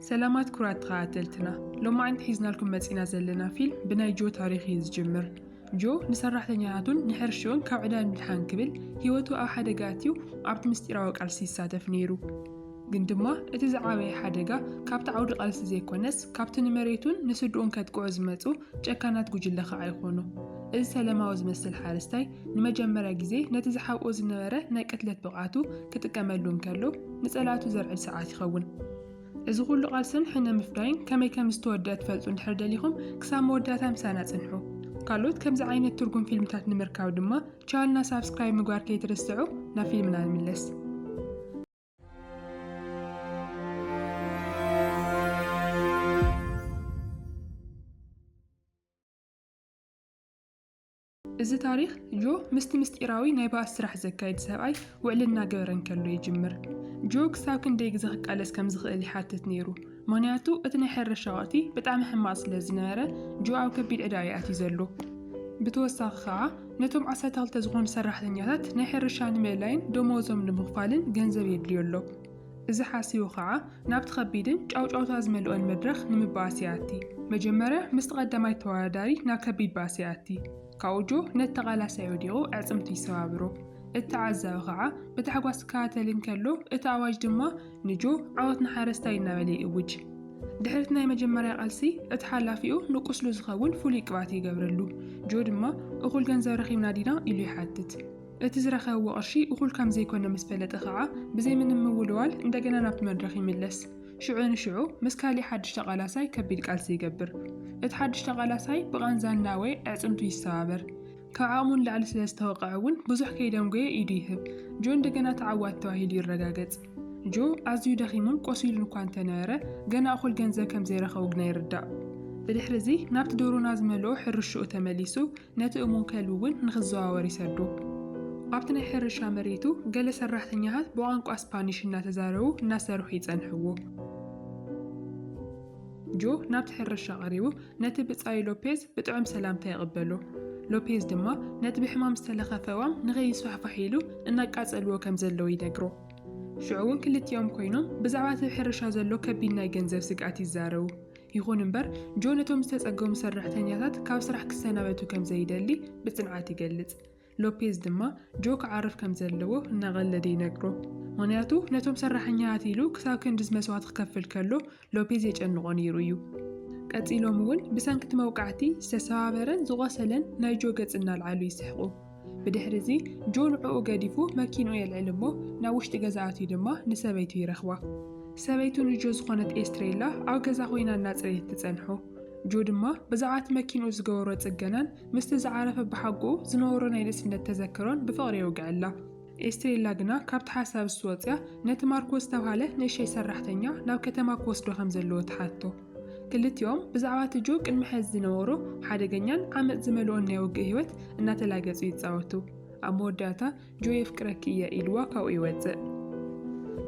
ሰላማት ኩራት ተኸታተልትና ሎማዕንቲ ሒዝናልኩም መጺና ዘለና ፊልም ብናይ ጆ ታሪኽ እዩ ዝጅምር ጆ ንሰራሕተኛታቱን ንሕርሽኡን ካብ ዕዳ ንምድሓን ክብል ህይወቱ ኣብ ሓደጋ ኣትዩ ኣብቲ ምስጢራዊ ቃልሲ ይሳተፍ ነይሩ ግን ድማ እቲ ዝዓበየ ሓደጋ ካብቲ ዓውዲ ቃልሲ ዘይኮነስ ካብቲ ንመሬቱን ንስድኡን ከጥቅዑ ዝመጹ ጨካናት ጉጅለ ከዓ ይኾኑ እዚ ሰለማዊ ዝመስል ሓረስታይ ንመጀመርያ ግዜ ነቲ ዝሓብኦ ዝነበረ ናይ ቅትለት ብቕዓቱ ክጥቀመሉ እንከሎ ንጸላእቱ ዘርዕድ ሰዓት ይኸውን። እዚ ኩሉ ቃልስን ሕነ ምፍዳይን ከመይ ከም ዝተወድኣ ትፈልጡ እንድሕር ደሊኹም ክሳብ መወዳእታ ምሳና ጽንሑ። ካልኦት ከምዚ ዓይነት ትርጉም ፊልምታት ንምርካብ ድማ ቻልና ሳብስክራይብ ምግባር ከይትርስዑ። ናብ ፊልምና ንምለስ። እዚ ታሪኽ ጆ ምስቲ ምስጢራዊ ናይ ባእሲ ስራሕ ዘካይድ ሰብኣይ ውዕሊ እናገበረ እንከሎ ይጅምር። ጆ ክሳብ ክንደይ ግዜ ክቃለስ ከም ዝኽእል ይሓትት ነይሩ፣ ምኽንያቱ እቲ ናይ ሕርሻ ወቕቲ ብጣዕሚ ሕማቕ ስለ ዝነበረ ጆ ኣብ ከቢድ ዕዳ እዩ ኣትዩ ዘሎ። ብተወሳኺ ከኣ ነቶም ዓሰርተ ክልተ ዝኾኑ ሰራሕተኛታት ናይ ሕርሻ ንምእላይን ደመወዞም ንምኽፋልን ገንዘብ የድልዮ ኣሎ። እዚ ሓሲቡ ከኣ ናብቲ ከቢድን ጫውጫውታ ዝመልኦን መድረኽ ንምባኣስ ይኣቲ። መጀመርያ ምስቲ ቀዳማይ ተወዳዳሪ ናብ ከቢድ ባእሲ ይኣቲ። ካብኡ ጆ ነቲ ተቓላሳይ ወዲቑ ኣዕጽምቱ ይሰባብሮ። እቲ ተዓዛቢ ከኣ ብታሕጓስ ክከታተል እንከሎ እቲ ኣዋጅ ድማ ንጆ ዓወት ንሓረስታይ እናበለ ይእውጅ። ድሕሪቲ ናይ መጀመርያ ቃልሲ እቲ ሓላፊኡ ንቁስሉ ዝኸውን ፍሉይ ቅብኣት ይገብረሉ። ጆ ድማ እኹል ገንዘብ ረኺብና ዲና ኢሉ ይሓትት። እቲ ዝረኸብዎ ቅርሺ እኹል ከም ዘይኮነ ምስ ፈለጠ ከኣ ብዘይ ምንም ምውልዋል እንደገና ናብቲ መድረኽ ይምለስ። ሽዑ ንሽዑ ምስ ካሊእ ሓድሽ ተቓላሳይ ከቢድ ቃልሲ ይገብር። እቲ ሓድሽ ተቓላሳይ ብቓንዛ እናወየ ኣዕጽምቱ ይሰባበር። ካብ ዓቕሙ ንላዕሊ ስለ ዝተወቕዐ እውን ብዙሕ ከይደንጎየ ኢዱ ይህብ። ጆ እንደገና ተዓዋቲ ተባሂሉ ይረጋገጽ። ጆ ኣዝዩ ደኺሙን ቆሲሉን እኳ እንተነበረ ገና እኹል ገንዘብ ከም ዘይረኸቡ ግና ይርዳእ። ብድሕሪ እዚ ናብቲ ዶሮና ዝመልኦ ሕርሽኡ ተመሊሱ ነቲ እሙን ከልቢ እውን ንኽዘዋወር ይሰዶ። ኣብቲ ናይ ሕርሻ መሬቱ ገለ ሰራሕተኛታት ብቋንቋ ስፓኒሽ እናተዛረቡ እናሰርሑ ይጸንሕዎ። ጆ ናብቲ ሕርሻ ቀሪቡ ነቲ ብጻዩ ሎፔዝ ብጥዑም ሰላምታ ይቕበሎ። ሎፔዝ ድማ ነቲ ብሕማም ዝተለኸፈ እዋም ንኸይስፋሕፋሕ ኢሉ እናቃጸልዎ ከም ዘለዉ ይነግሮ። ሽዑ እውን ክልቲኦም ኮይኖም ብዛዕባ እቲ ሕርሻ ዘሎ ከቢድ ናይ ገንዘብ ስግኣት ይዛረቡ። ይኹን እምበር ጆን እቶም ዝተጸገሙ ሰራሕተኛታት ካብ ስራሕ ክሰናበቱ ከም ዘይደሊ ብጽንዓት ይገልጽ። ሎፔዝ ድማ ጆ ክዓርፍ ከም ዘለዎ እናቐለደ ይነግሮ። ምኽንያቱ ነቶም ሰራሕኛታት ኢሉ ክሳብ ክንድዚ መስዋእቲ ክከፍል ከሎ ሎፔዝ የጨንቖ ነይሩ እዩ። ቀጺሎም እውን ብሰንኪ እቲ መውቃዕቲ ዝተሰባበረን ዝቖሰለን ናይ ጆ ገጽ እናልዓሉ ይስሕቑ። ብድሕሪ እዚ ጆ ንዕኡ ገዲፉ መኪንኡ የልዕል እሞ ናብ ውሽጢ ገዛ ኣትዩ ድማ ንሰበይቱ ይረኽባ። ሰበይቱ ንጆ ዝኾነት ኤስትሬላ ኣብ ገዛ ኮይና እናጽረየት ትጸንሖ። ጆ ድማ ብዛዕባ እቲ መኪንኡ ዝገበሮ ጽገናን ምስቲ ዝዓረፈ ኣቦሓጎኡ ዝነበሮ ናይ ንእስነት ተዘክሮን ብፍቕሪ የውግዐላ። ኤስትሬላ ግና ካብቲ ሓሳብስ ወጺኣ ነቲ ማርኮ ዝተብሃለ ንእሸይ ሰራሕተኛ ናብ ከተማ ክወስዶ ከም ዘለዎ ትሓቶ። ክልቲኦም ብዛዕባ እቲ ጆ ቅድሚ ሕዚ ዝነበሮ ሓደገኛን ዓመጽ ዝመልኦን ናይ ውግእ ህይወት እናተላገጹ ይጻወቱ። ኣብ መወዳእታ ጆ የፍቅረኪ እየ ኢልዋ ካብኡ ይወጽእ።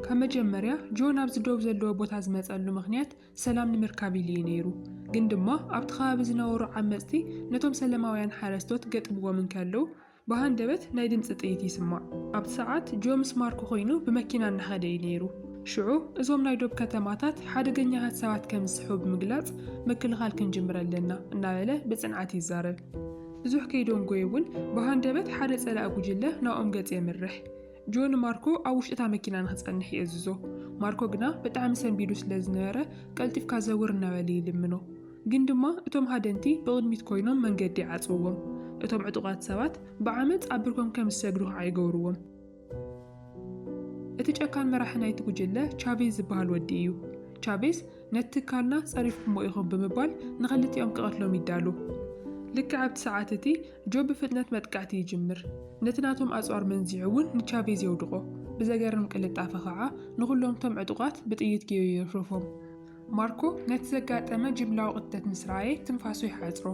ካብ መጀመርያ ጆ ናብዚ ዶብ ዘለዎ ቦታ ዝመጸሉ ምኽንያት ሰላም ንምርካብ ኢሉ እዩ ነይሩ። ግን ድማ ኣብቲ ከባቢ ዝነበሩ ዓመጽቲ ነቶም ሰለማውያን ሓረስቶት ገጥምዎም እንከለዉ ብሃንደበት ናይ ድምጺ ጥይት ይስማዕ። ኣብቲ ሰዓት ጆ ምስ ማርኮ ኮይኑ ብመኪና እናኸደ እዩ ነይሩ። ሽዑ እዞም ናይ ዶብ ከተማታት ሓደገኛታት ሰባት ከም ዝስሕቡ ብምግላጽ ምክልኻል ክንጅምር ኣለና እናበለ ብጽንዓት ይዛረብ። ብዙሕ ከይደንጎዩ እውን ብሃንደበት ሓደ ጸላኢ ጉጅለ ናብኦም ገጽ የምርሕ። ጆ ንማርኮ ኣብ ውሽጢ እታ መኪና ንኽጸንሕ ይእዝዞ። ማርኮ ግና ብጣዕሚ ሰንቢዱ ስለ ዝነበረ ቀልጢፍካ ዘውር እናበለ ይልምኖ። ግን ድማ እቶም ሃደንቲ ብቕድሚት ኮይኖም መንገዲ ይዓጽውዎም። እቶም ዕጡቓት ሰባት ብዓመጽ ኣብ ብርኮም ከም ዝሰግሩ ኸኣ ይገብርዎም። እቲ ጨካን መራሒ ናይቲ ጉጅለ ቻቬዝ ዝበሃል ወዲ እዩ። ቻቬዝ ነቲ ትካልና ጸሪፍኩሞ ኢኹም ብምባል ንኽልቲኦም ክቐትሎም ይዳሎ። ልክዕ ኣብቲ ሰዓት እቲ ጆብ ብፍጥነት መጥቃዕቲ ይጅምር። ነቲ ናቶም ኣጽዋር መንዚዑ እውን ንቻቬዝ የውድቖ። ብዘገርም ቅልጣፈ ኸኣ ንኹሎም'ቶም ዕጡቓት ብጥይት ጌዩ የርፍርፎም። ማርኮ ነቲ ዘጋጠመ ጅምላዊ ቅትለት ምስ ረኣየ ትንፋሱ ይሓጽሮ።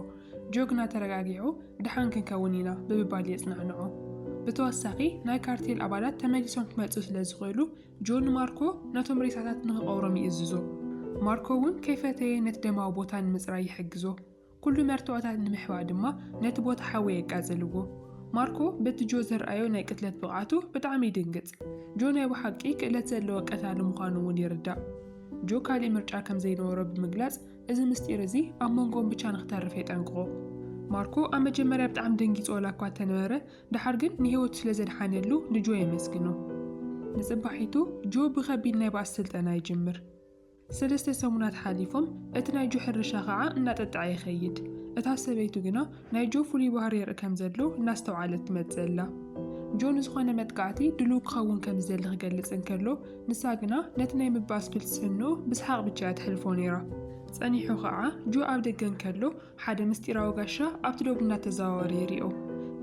ጆግና ተረጋጊዑ ደሓን ክንከውን ኢና ብምባል የጽናዕንዖ። ብተወሳኺ ናይ ካርቴል ኣባላት ተመሊሶም ክመጽኡ ስለ ዝኽእሉ ጆ ንማርኮ ነቶም ሬሳታት ንኽቐብሮም ይእዝዞ። ማርኮ እውን ከይፈተየ ነቲ ደማዊ ቦታ ንምጽራይ ይሕግዞ። ኩሉ መርትዖታት ንምሕባእ ድማ ነቲ ቦታ ሓዊ የቃጽልዎ። ማርኮ በቲ ጆ ዘርኣዮ ናይ ቅትለት ብቕዓቱ ብጣዕሚ ይድንግጽ። ጆ ናይ ብሓቂ ክእለት ዘለዎ ቀታሊ ምዃኑ እውን ይርዳእ። ጆ ካልእ ምርጫ ከም ዘይነበሮ ብምግላጽ እዚ ምስጢር እዚ ኣብ መንጎኦም ብቻ ንክተርፍ የጠንቅቖ። ማርኮ ኣብ መጀመርያ ብጣዕሚ ደንጊጹ ዋላ እኳ እንተነበረ ደሓር ግን ንህይወቱ ስለ ዘድሓነሉ ንጆ የመስግኖ። ንጽባሒቱ ጆ ብኸቢድ ናይ ባእሲ ስልጠና ይጅምር። ሰለስተ ሰሙናት ሓሊፎም፣ እቲ ናይ ጆ ሕርሻ ኸዓ እናጠጠዐ ይኸይድ። እታ ሰበይቱ ግና ናይ ጆ ፍሉይ ባህሪ የርኢ ከም ዘሎ እናስተውዓለት ትመጽእ ኣላ። ጆ ንዝኾነ መጥቃዕቲ ድሉው ክኸውን ከም ዝደሊ ክገልጽ እንከሎ፣ ንሳ ግና ነቲ ናይ ምብኣስ ፍልስፍንኡ ብስሓቕ ብቻ እያ ተሕልፎ ነይራ። ጸኒሑ ኸዓ ጆ ኣብ ደገ እንከሎ ሓደ ምስጢራዊ ጋሻ ኣብቲ ዶብ እናተዘዋወረ ይሪኦ።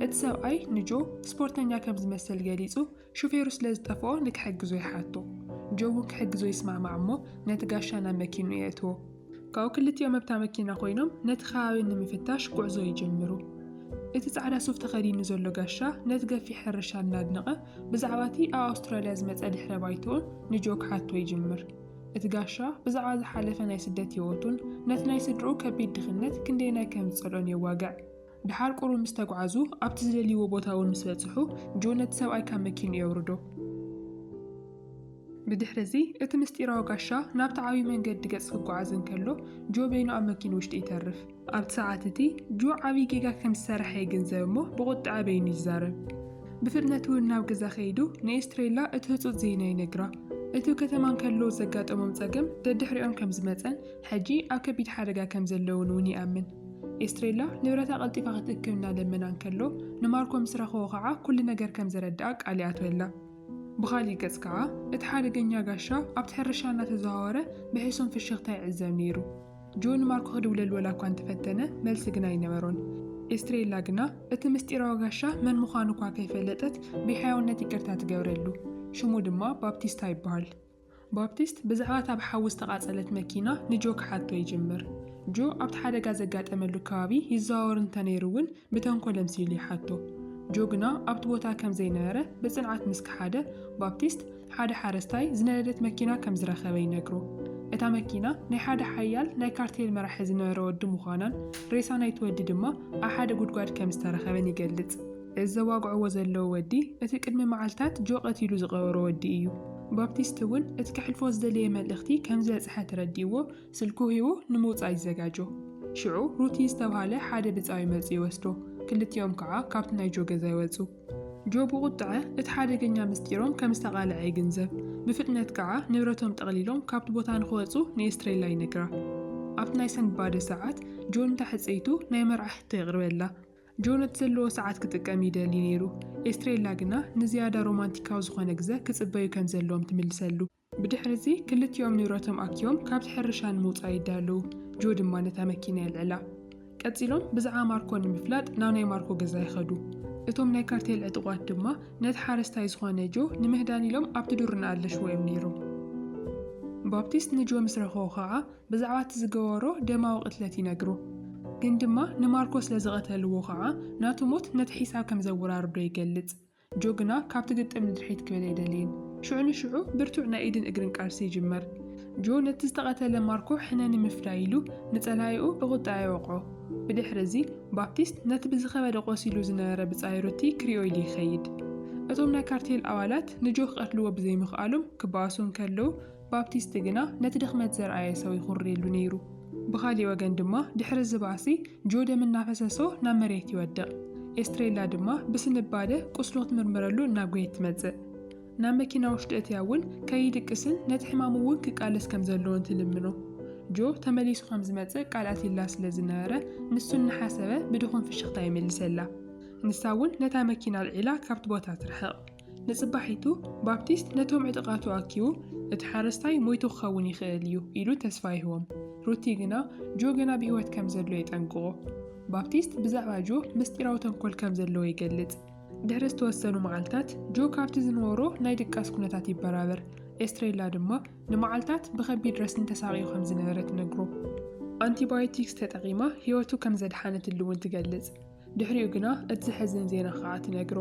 እቲ ሰብኣይ ንጆ ስፖርተኛ ከም ዝመሰል ገሊጹ ሹፌሩ ስለ ዝጠፍኦ ንክሕግዞ ይሓቶ። ጆ እውን ክሕግዞ ይስማዕማዕ እሞ ነቲ ጋሻ ናብ መኪንኡ የእትዎ። ካብኡ ክልቲኦም ኣብታ መኪና ኮይኖም ነቲ ከባቢ ንምፍታሽ ጉዕዞ ይጅምሩ። እቲ ጻዕዳ ሱፍ ተኸዲኑ ዘሎ ጋሻ ነቲ ገፊሕ ሕርሻ እናድነቐ ብዛዕባ እቲ ኣብ ኣውስትራልያ ዝመጸ ድሕረ ባይትኡን ንጆ ክሓቶ ይጅምር። እቲ ጋሻ ብዛዕባ ዝሓለፈ ናይ ስደት ህይወቱን ነቲ ናይ ስድርኡ ከቢድ ድኽነት ክንደየናይ ከም ዝጸልኦን የዋግዕ። ድሓር ቁሩብ ምስ ተጉዓዙ ኣብቲ ዝደልይዎ ቦታ እውን ምስ በጽሑ ጆን ነቲ ሰብኣይ ካብ መኪንኡ የውርዶ። ብድሕሪ እዚ እቲ ምስጢራዊ ጋሻ ናብቲ ዓብዪ መንገዲ ገጽ ክጉዓዝ እንከሎ ጆ በይኑ ኣብ መኪኑ ውሽጢ ይተርፍ። ኣብቲ ሰዓት እቲ ጆ ዓብዪ ጌጋ ከም ዝሰረሐ ይግንዘብ እሞ ብቁጠዐ በይኑ ይዛረብ። ብፍጥነት እውን ናብ ገዛ ከይዱ ንኤስትሬላ እቲ ህጹጽ ዜና ይነግራ። እቱ ከተማ እንከለዉ ዘጋጠሞም ጸገም ደድሕሪኦም ከም ዝመጸን ሕጂ ኣብ ከቢድ ሓደጋ ከም ዘለዉን እውን ይኣምን። ኤስትሬላ ንብረታ ቀልጢፋ ክትእክብ እናለመና እንከሎ ንማርኮ ምስ ረኸቦ ኸዓ ኩሉ ነገር ከም ዘረድኣ ቃል ይኣትወላ። ብኻሊእ ገፅ ከዓ እቲ ሓደገኛ ጋሻ ኣብቲ ሕርሻ እናተዘዋወረ ብሕሱም ፍሽኽታ ይዕዘብ ነይሩ። ጆ ንማርኮ ክድውለሉ ወላ እኳ እንተፈተነ መልሲ ግና ኣይነበሮን። ኤስትሬላ ግና እቲ ምስጢራዊ ጋሻ መን ምዃኑ እኳ ከይፈለጠት ብሕያውነት ይቅርታ ትገብረሉ። ሽሙ ድማ ባፕቲስታ ይበሃል። ባፕቲስት ብዛዕባ እታ ብሓዊ ዝተቓጸለት መኪና ንጆ ክሓቶ ይጅምር። ጆ ኣብቲ ሓደጋ ዘጋጠመሉ ከባቢ ይዘዋወር እንተ ነይሩ እውን ብተንኰል ኣምሲሉ ይሓቶ። ጆ ግና ኣብቲ ቦታ ከም ዘይነበረ ብጽንዓት ምስ ከሓደ፣ ባፕቲስት ሓደ ሓረስታይ ዝነደደት መኪና ከም ዝረኸበ ይነግሮ። እታ መኪና ናይ ሓደ ሓያል ናይ ካርቴል መራሒ ዝነበረ ወዲ ምዃናን ሬሳ ናይቲ ወዲ ድማ ኣብ ሓደ ጕድጓድ ከም ዝተረኸበን ይገልጽ። እዚ ዘዋግዕዎ ዘለዉ ወዲ፣ እቲ ቅድሚ መዓልታት ጆ ቀቲሉ ዝቐበሮ ወዲ እዩ። ባፕቲስት እውን እቲ ከሕልፎ ዝደለየ መልእኽቲ ከም ዝበጽሐ ተረዲእዎ ስልኩ ሂቡ ንምውጻእ ይዘጋጆ። ሽዑ ሩቲ ዝተብሃለ ሓደ ብጻዩ መጺኡ ይወስዶ፣ ክልቲኦም ከኣ ካብቲ ናይ ጆ ገዛ ይወጹ። ጆ ብቑጥዐ እቲ ሓደገኛ ምስጢሮም ከም ዝተቓልዐ ይግንዘብ፣ ብፍጥነት ከኣ ንብረቶም ጠቕሊሎም ካብቲ ቦታ ንኽወጹ ንኤስትሬላ ይነግራ። ኣብቲ ናይ ሰንብባደ ሰዓት፣ ጆ ንታሕጸይቱ ናይ መርዓ ሕቶ የቕርበላ። ጆን እቲ ዘለዎ ሰዓት ክጥቀም ይደሊ ነይሩ፣ ኤስትሬላ ግና ንዝያዳ ሮማንቲካዊ ዝዀነ ግዘ ክጽበዩ ከም ዘለዎም ትምልሰሉ። ብድሕርዚ ክልቲኦም ንብረቶም ኣኪቦም ካብቲ ሕርሻ ንምውጻእ ይዳለዉ፣ ጆ ድማ ነታ መኪና የልዕላ። ቀጺሎም ብዛዕባ ማርኮ ንምፍላጥ ናብ ናይ ማርኮ ገዛ ይኸዱ። እቶም ናይ ካርቴል ዕጡቓት ድማ ነቲ ሓረስታይ ዝዀነ ጆ ንምህዳን ኢሎም ኣብቲ ዱር እናኣለሽዎ እዮም ነይሮም። ባፕቲስት ንጆ ምስ ረኸቦ ኸኣ ብዛዕባ እቲ ዝገበሮ ደማዊ ቅትለት ይነግሩ። ግን ድማ ንማርኮ ስለ ዝቐተልዎ ኸኣ ናቱ ሞት ነቲ ሒሳብ ከም ዘወራርዶ ይገልጽ። ጆ ግና ካብቲ ግጥም ንድሕሪት ክብል ኣይደልይን። ሽዑ ንሽዑ ብርቱዕ ናይ ኢድን እግርን ቃልሲ ይጅምር። ጆ ነቲ ዝተቐተለ ማርኮ ሕነ ንምፍዳይ ኢሉ ንጸላኢኡ ብቑጠዐ ይወቕዖ። ብድሕሪ እዚ ባፕቲስት ነቲ ብዝኸበደ ቆሲሉ ዝነበረ ብጻዩ ሩቲ ክሪኦ ኢሉ ይኸይድ። እቶም ናይ ካርቴል ኣባላት ንጆ ክቐትልዎ ብዘይምኽኣሎም ክበኣሱ እንከለዉ፣ ባፕቲስት ግና ነቲ ድኽመት ዘርኣየ ሰው ይኹርየሉ ነይሩ። ብኻሊእ ወገን ድማ ድሕሪ እዚ ባእሲ ጆ ደም እናፈሰሶ ናብ መሬት ይወድቕ። ኤስትሬላ ድማ ብስንባደ ቁስሉ ክትምርምረሉ እናጎየት ትመጽእ። ናብ መኪና ውሽጢ እትያ እውን ከይድቅስን ነቲ ሕማሙ እውን ክቃለስ ከም ዘለዎን ትልምኖ። ጆ ተመሊሱ ከም ዝመጽእ ቃል ኣትይላ ስለ ዝነበረ ንሱ እናሓሰበ ብድኹም ፍሽኽታ ይምልሰላ። ንሳ እውን ነታ መኪና ኣልዒላ ካብቲ ቦታ ትርሕቕ። ንጽባሒቱ ባፕቲስት ነቶም ዕጡቓቱ ኣኪቡ፣ እቲ ሓረስታይ ሞይቱ ክኸውን ይኽእል እዩ ኢሉ ተስፋ ይህቦም። ሩቲ ግና ጆ ገና ብህይወት ከም ዘሎ የጠንቅቖ። ባፕቲስት ብዛዕባ ጆ ምስጢራዊ ተንኮል ከም ዘለዎ ይገልጽ። ድሕሪ ዝተወሰኑ መዓልታት ጆ ካብቲ ዝነበሮ ናይ ድቃስ ኩነታት ይበራበር፣ ኤስትሬላ ድማ ንመዓልታት ብኸቢድ ረስኒ ተሳቕዩ ከም ዝነበረ ትነግሮ። ኣንቲባዮቲክስ ተጠቒማ ህይወቱ ከም ዘድሓነትሉ እውን ትገልጽ። ድሕሪኡ ግና እቲ ዘሕዝን ዜና ኸኣ ትነግሮ።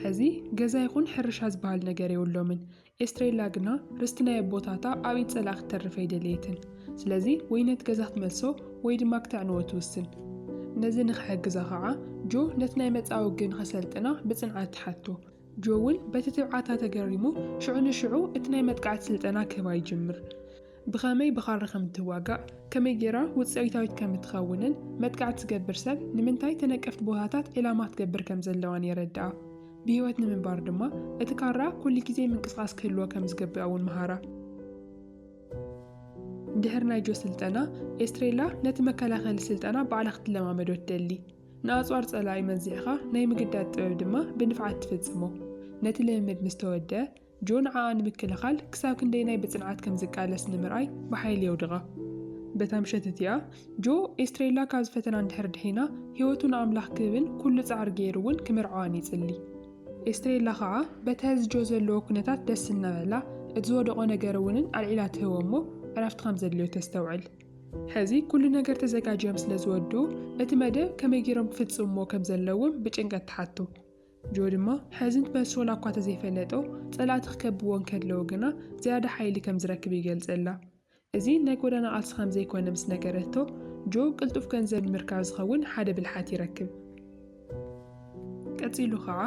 ሕዚ ገዛ ይኹን ሕርሻ ዝበሃል ነገር የብሎምን። ኤስትሬላ ግና ርስቲ ናይ ኣቦታታ ኣብ ኢድ ጸላኢ ክትተርፍ ኣይደለየትን። ስለዚ ወይ ነቲ ገዛ ክትመልሶ ወይ ድማ ክተዕንዎ ትውስን። ነዚ ንኽሕግዛ ኸኣ ጆ ነቲ ናይ መጻወግኢ ንኸሰልጥና ብጽንዓት ትሓቶ። ጆውል በቲ ትብዓታ ተገሪሙ፣ ሽዑ ንሽዑ እቲ ናይ መጥቃዕቲ ስልጠና ክህባ ይጅምር። ብኸመይ ብኻራ ከም እትዋጋእ፣ ከመይ ገይራ ውጽኢታዊት ከም እትኸውንን፣ መጥቃዕቲ ትገብር ሰብ ንምንታይ ተነቀፍቲ ቦታታት ዒላማ ክትገብር ከም ዘለዋን የረድኣ። ብህይወት ንምንባር ድማ እቲ ካራ ኩሉ ግዜ ምንቅስቓስ ክህልዎ ከም ዝግብኣ እውን መሃራ። ድሕሪ ናይ ጆ ስልጠና፣ ኤስትሬላ ነቲ መከላኸሊ ስልጠና ባዕላ ክትለማመዶ ትደሊ። ንኣጽዋር ጸላኢ መዚዕካ ናይ ምግዳድ ጥበብ ድማ ብንፍዓት ትፍጽሞ። ነቲ ልምምድ ምስ ተወድኣ፣ ጆ ንዓኣ ንምክልኻል ክሳብ ክንደየናይ ብጽንዓት ከም ዝቃለስ ንምርኣይ ብሓይሊ የውድቓ። በታ ምሸት እቲኣ፣ ጆ ኤስትሬላ ካብ ዝፈተና እንድሕር ድሒና፣ ህይወቱ ንኣምላኽ ክህብን ኩሉ ጻዕሪ ገይሩ እውን ክምርዓዋን ይጽሊ። ኤስትሬላ ከኣ በቲ ሐዚ ጆ ዘለዎ ኩነታት ደስ እናበላ፣ እቲ ዝወደቖ ነገር እውንን ኣልዒላ ትህቦ እሞ ዕረፍቲ ከም ዘድልዮ ተስተውዕል። ሕዚ ኩሉ ነገር ተዘጋጅዮም ስለ ዝወድኡ እቲ መደብ ከመይ ገይሮም ክፍጽምዎ ከም ዘለዎም ብጭንቀት ትሓቱ። ጆ ድማ ሕዚ መልሲ ወላ እኳ ተዘይፈለጦ ጸላእቲ ክከብዎ እንከለዉ ግና ዝያዳ ሓይሊ ከም ዝረክብ ይገልጸላ። እዚ ናይ ጎዳና ቃልሲ ከም ዘይኮነ ምስ ነገረቶ ጆ ቅልጡፍ ገንዘብ ንምርካብ ዝኸውን ሓደ ብልሓት ይረክብ። ቀጺሉ ከኣ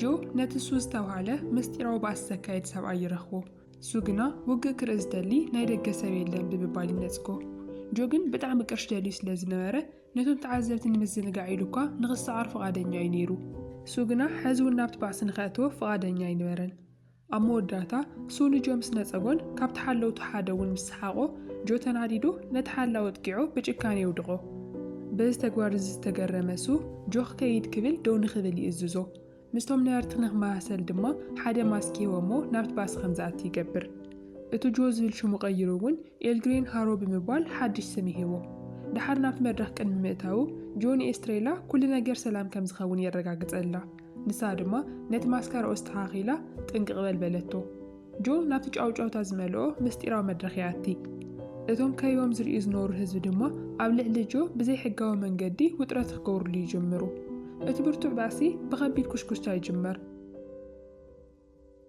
ጆ ነቲ ሱዝ ዝተባህለ ምስጢራዊ ባእሲ ዘካይድ ሰብኣይ ይረኽቦ። እሱ ግና ውግእ ክርኢ ዝደሊ ናይ ደገ ሰብ የለን ብምባል ይነጽጎ። ጆ ግን ብጣዕሚ ቅርሺ ደልዩ ስለ ዝነበረ ነቶም ተዓዘብቲ ንምዝንጋዕ ኢሉ እኳ ንኽሰዓር ፍቓደኛ እዩ ነይሩ። እሱ ግና ሕዚ እውን ናብቲ ባእሲ ንኸእትዎ ፍቓደኛ ኣይነበረን። ኣብ መወዳእታ እሱ ንጆ ምስ ነጸጎን ካብቲ ሓለውቱ ሓደ እውን ምስ ሰሓቖ ጆ ተናዲዱ ነቲ ሓላዊ ኣጥቂዑ ብጭካነ የውድቖ። በዚ ተግባር እዚ ዝተገረመ እሱ ጆ ክከይድ ክብል ደው ንኽብል ይእዝዞ። ምስቶም ነበርቲ ንክመሳሰል ድማ ሓደ ማስክ ይህቦ'ሞ ናብቲ ባስ ከም ዝኣቲ ይገብር። እቲ ጆ ዝብል ሽሙ ቀይሩ እውን ኤልግሬን ሃሮ ብምባል ሓድሽ ስም ይህቦ። ደሓር ናብቲ መድረኽ ቅድሚ ምእታዉ ጆ ንኤስትሬላ ኩሉ ነገር ሰላም ከም ዝኸውን የረጋግጸላ። ንሳ ድማ ነቲ ማስካራኡ ኣስተኻኺላ ጥንቅቕ በል በለቶ። ጆ ናብቲ ጫውጫውታ ዝመልኦ ምስጢራዊ መድረኽ ይኣቲ። እቶም ከይቦም ዝርእዩ ዝነበሩ ህዝቢ ድማ ኣብ ልዕሊ ጆ ብዘይሕጋዊ መንገዲ ውጥረት ክገብርሉ ይጅምሩ። እቲ ብርቱዕ ባእሲ ብኸቢድ ኩሽኩሽታ ይጅመር።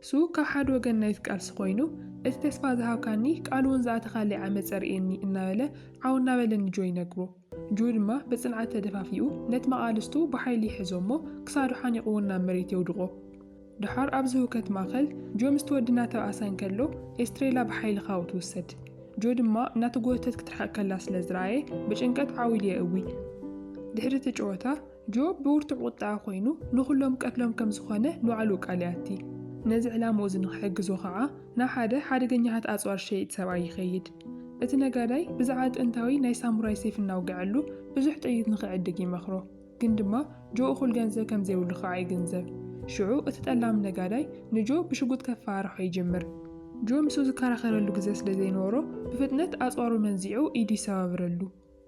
ሱ ካብ ሓደ ወገን ናይቲ ቃልሲ ኮይኑ፣ እቲ ተስፋ ዝሃብካኒ ቃል'ውን ዝኣተኻለይ ዓመጽ ኣርእየኒ እናበለ ዓው እናበለ ንጆ ይነግሮ። ጁ ድማ ብጽንዓት ተደፋፊኡ ነቲ መቓልስቱ ብሓይሊ ይሕዞ'ሞ ክሳዱ ሓኒቑዎ ናብ መሬት የውድቖ። ደሓር ኣብዚ ህውከት ማእከል ጆ ምስቲ ወዲ እናተባእሰ እንከሎ ኤስትሬላ ብሓይሊ ካብኡ ትውሰድ። ጆ ድማ እናተጎተተት ክትርሕቕ ከላ ስለ ዝረኣየ ብጭንቀት ዓው ኢሉ የእዊ። ድሕሪ እቲ ጨወታ ጆብ ብብርቱዕ ቁጠዐ ኮይኑ ንኹሎም ቀትሎም ከም ዝኾነ ንባዕሉ ቃል ይኣቲ። ነዚ ዕላምኡ እዚ ንኽሕግዞ ኸዓ ናብ ሓደ ሓደገኛታት ኣጽዋር ዝሸይጥ ሰብኣይ ይኸይድ። እቲ ነጋዳይ ብዛዕባ ጥንታዊ ናይ ሳሙራይ ሴፍ እናውገዐሉ ብዙሕ ጥይት ንኽዕድግ ይመኽሮ። ግን ድማ ጆ እኹል ገንዘብ ከም ዘይብሉ ኸዓ ይግንዘብ። ሽዑ እቲ ጠላም ነጋዳይ ንጆ ብሽጉጥ ከፈራርሖ ይጅምር። ጆ ምስኡ ዝከራኸረሉ ግዘ ስለ ዘይነበሮ ብፍጥነት ኣጽዋሩ መንዚዑ ኢዱ ይሰባብረሉ።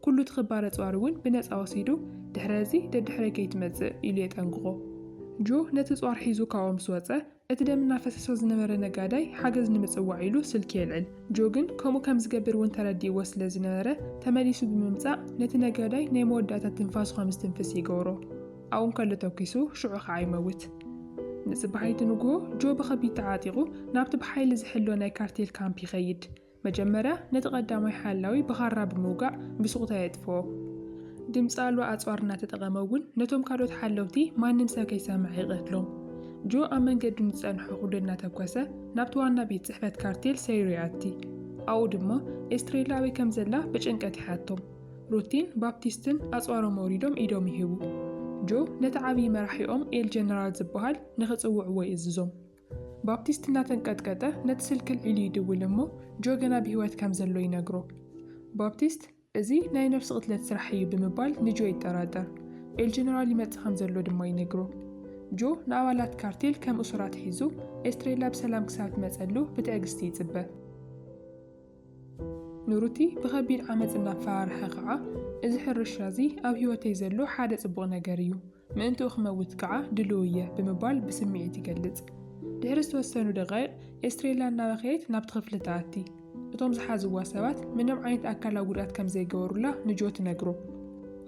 ኩሉ እቲ ክባር ኣጽዋር እውን ብነጻ ወሲዱ፣ ድሕረ እዚ ደድሕረይ ከይትመጽእ! ኢሉ የጠንቅቖ። ጆ ነቲ ኣጽዋር ሒዙ ካብኡ ምስ ወጸ፣ እቲ ደም እናፈሰሶ ዝነበረ ነጋዳይ ሓገዝ ንምጽዋዕ ኢሉ ስልኪ የልዕል። ጆ ግን ከምኡ ከም ዝገብር እውን ተረዲእዎ ስለ ዝነበረ፣ ተመሊሱ ብምምጻእ ነቲ ነጋዳይ ናይ መወዳእታ ትንፋሱ ከም ዝትንፍስ ይገብሮ። ኣብኡ እንከሎ ተኲሱ፣ ሽዑ ኸኣ ይመውት። ንጽባሒቱ ንግሆ፣ ጆ ብኸቢድ ተዓጢቑ ናብቲ ብሓይሊ ዝሕሎ ናይ ካርቴል ካምፕ ይኸይድ። መጀመርያ ነቲ ቀዳማይ ሓላዊ ብኻራ ብምውጋዕ ብሱቕታ የጥፍኦ። ድምጺ ኣልባ ኣጽዋር እናተጠቐመ እውን ነቶም ካልኦት ሓለውቲ ማንም ሰብ ከይሰምዐ ይቐትሎም። ጆ ኣብ መንገዱ ንዝጸንሖ ኩሉ እናተኮሰ ናብቲ ዋና ቤት ጽሕፈት ካርቴል ሰይሩ ይኣቲ። ኣብኡ ድማ ኤስትሬላ ኣበይ ከም ዘላ ብጭንቀት ይሓቶም። ሩቲን ባፕቲስትን ኣጽዋሮም ኣውሪዶም ኢዶም ይህቡ። ጆ ነቲ ዓብዪ መራሒኦም ኤል ጀነራል ዝበሃል ንኽጽውዕዎ ይእዝዞም። ባፕቲስት እናተንቀጥቀጠ ነቲ ስልኪ ኣልዒሉ ይድውል እሞ ጆ ገና ብህይወት ከም ዘሎ ይነግሮ። ባፕቲስት እዚ ናይ ነፍሲ ቅትለት ስራሕ እዩ ብምባል ንጆ ይጠራጠር። ኤል ጀነራል ይመጽእ ከም ዘሎ ድማ ይነግሮ። ጆ ንኣባላት ካርቴል ከም እሱራት ሒዙ ኤስትሬላ ብሰላም ክሳብ ትመጸሉ ብትዕግስቲ ይጽበ። ንሩቲ ብኸቢድ ዓመጽ እናፈራርሐ ኸዓ እዚ ሕርሻ እዚ ኣብ ህይወተይ ዘሎ ሓደ ጽቡቕ ነገር እዩ። ምእንትኡ ክመውት ከኣ ድሉው እየ ብምባል ብስምዒት ይገልጽ። ድሕሪ ዝተወሰኑ ደቓይቕ፣ ኤስትሬላ እናበኸየት ናብቲ ክፍሊ ትኣቲ። እቶም ዝሓዝዋ ሰባት ምንም ዓይነት ኣካላዊ ጉድኣት ከም ዘይገበሩላ ንጆ ትነግሮ።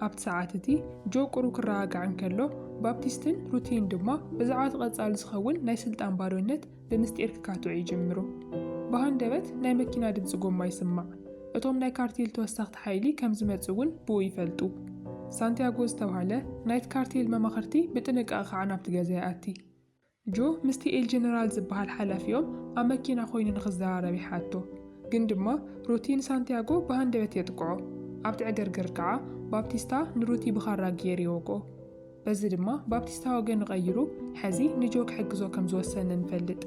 ኣብቲ ሰዓት እቲ፣ ጆ ቁሩብ ክረጋጋዕ እንከሎ፣ ባፕቲስትን ሩቲን ድማ ብዛዕባ እቲ ቀጻሊ ዝኸውን ናይ ስልጣን ባዶነት ብምስጢር ክካትዑ ይጅምሩ። ብሃንደበት ናይ መኪና ድምፂ ጎማ ይስማዕ። እቶም ናይ ካርቴል ተወሰኽቲ ሓይሊ ከም ዝመፁ እውን ብኡ ይፈልጡ። ሳንቲያጎ ዝተብሃለ ናይቲ ካርቴል መማኽርቲ ብጥንቃቐ ከዓ ናብቲ ገዛ ይኣቲ። ጆ ምስቲ ኤል ጀነራል ዝበሃል ሓላፊኦም ኣብ መኪና ኮይኑ ንክዘራረብ ይሓቶ። ግን ድማ ሩቲ ንሳንቲያጎ ብሃንደበት የጥቅዖ። ኣብቲ ዕግርግር ከዓ ባፕቲስታ ንሩቲ ብኻራ ጌር ይወግኦ። በዚ ድማ ባፕቲስታዊ ወገን ቐይሩ ሐዚ ንጆ ክሕግዞ ከም ዝወሰነ ንፈልጥ።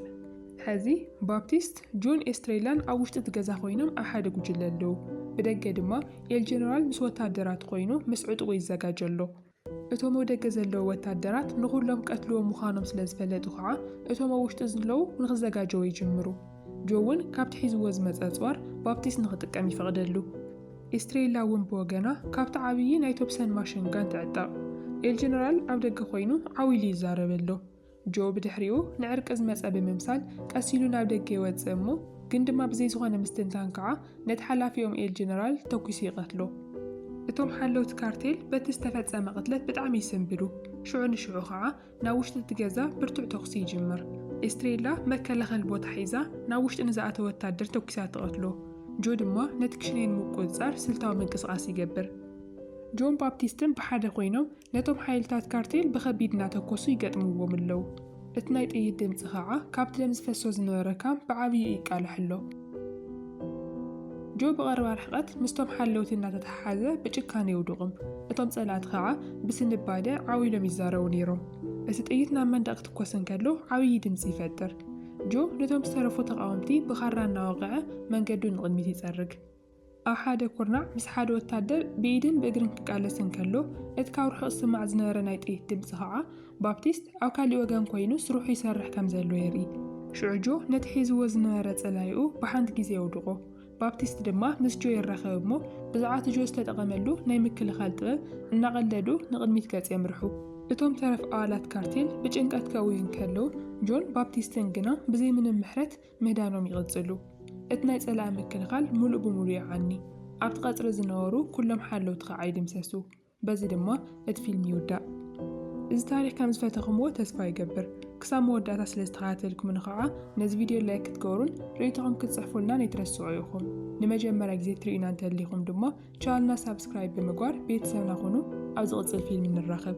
ሐዚ ባፕቲስት፣ ጆን ኤስትሬላን ኣብ ውሽጢ እቲ ገዛ ኮይኖም ኣብ ሓደ ጉጅለ ኣለው። ብደገ ድማ ኤል ጀነራል ምስ ወታደራት ኮይኑ ምስ ዕጥቑ ይዘጋጀ ኣሎ። እቶም ኣብ ደገ ዘለው ወታደራት ንኹሎም ክቀትልዎም ምዃኖም ስለ ዝፈለጡ ከዓ እቶም ኣብ ውሽጢ ዝለው ንክዘጋጀው ይጅምሩ። ጆ እውን ካብቲ ሒዝዎ ዝመፀ ኣፅዋር ባፕቲስት ንክጥቀም ይፈቕደሉ። ኤስትሬላ እውን ብወገና ካብቲ ዓብዪ ናይ ቶፕሰን ማሽን ጋን ትዕጠቕ። ኤል ጀነራል ኣብ ደገ ኰይኑ ዓው ኢሉ ይዛረብ ኣሎ። ጆ ብድሕሪኡ ንዕርቂ ዝመጸ ብምምሳል ቀስ ኢሉ ናብ ደገ ይወጽእ እሞ ግን ድማ ብዘይ ዝዀነ ምስትንታን ከኣ ነቲ ሓላፊኦም ኤል ጀነራል ተኲሱ ይቐትሎ። እቶም ሓለውቲ ካርቴል በቲ ዝተፈጸመ ቅትለት ብጣዕሚ ይስንብዱ። ሽዑ ንሽዑ ከኣ ናብ ውሽጢ እቲ ገዛ ብርቱዕ ተኹሲ ይጅምር። ኤስትሬላ መከላኸሊ ቦታ ሒዛ ናብ ውሽጢ ንዝኣተወ ወታደር ተኲሳ ትቐትሎ። ጆ ድማ ነቲ ክሽነይ ንምቁጽጻር ስልታዊ ምንቅስቓስ ይገብር። ጆን ባፕቲስትን ብሓደ ኮይኖም ነቶም ሓይልታት ካርቴል ብኸቢድ እናተኮሱ ይገጥምዎም ኣለው። እቲ ናይ ጥይት ድምጺ ኸኣ ካብቲ ደም ዝፈሶ ዝነበረ ካምፕ ብዓብይኡ ይቃላሕ ኣሎ። ጆ ብቐረባ ርሕቐት ምስቶም ሓለውቲ እናተተሓሓዘ ብጭካነ የውድቑም፣ እቶም ጸላእቲ ኸኣ ብስንባደ ዓው ኢሎም ይዛረቡ ነይሮም። እቲ ጥይት ናብ መንደቕ ክትኮስ እንከሎ ዓብዪ ድምጺ ይፈጥር። ጆ ነቶም ዝተረፉ ተቓወምቲ ብኻራ እናወቕዐ መንገዱ ንቕድሚት ይጸርግ። ኣብ ሓደ ኩርናዕ ምስ ሓደ ወታደር ብኢድን ብእግርን ክቃለስ እንከሎ፣ እቲ ካብ ርሑቕ ዝስማዕ ዝነበረ ናይ ጥይት ድምጺ ኸኣ፣ ባፕቲስት ኣብ ካልእ ወገን ኰይኑ ስርሑ ይሰርሕ ከም ዘሎ የርኢ። ሽዑ ጆ ነቲ ሒዝዎ ዝነበረ ጸላኢኡ ብሓንቲ ግዜ የውድቖ። ባፕቲስት ድማ ምስ ጆ ይራኸብ እሞ፣ ብዛዕባ እቲ ጆ ዝተጠቐመሉ ናይ ምክልኻል ጥበብ እናቐለዱ ንቕድሚት ገጽ የምርሑ። እቶም ተረፍ ኣባላት ካርቴል ብጭንቀት ከእውዩ እንከለዉ፣ ጆን ባፕቲስትን ግና ብዘይ ምንም ምሕረት ምህዳኖም ይቕጽሉ። እቲ ናይ ጸላኢ ምክልኻል ምሉእ ብምሉእ ይዓኒ፣ ኣብቲ ቀጽሪ ዝነበሩ ኩሎም ሓለውቲ ኸኣ ይድምሰሱ። በዚ ድማ እቲ ፊልም ይውዳእ። እዚ ታሪኽ ከም ዝፈተኹምዎ ተስፋ ይገብር። ክሳብ መወዳእታ ስለ ዝተኸታተልኩምኒ ኸኣ ነዚ ቪድዮ ላይክ ክትገብሩን ርእይቶኹም ክትጽሕፉልናን ኣይትረስዑ ኢኹም። ንመጀመርያ ግዜ ትርእዩና እንተሊኹም ድማ ቻነልና ሳብስክራይብ ብምግባር ቤተሰብና ኹኑ። ኣብ ዝቕጽል ፊልም ንራኸብ።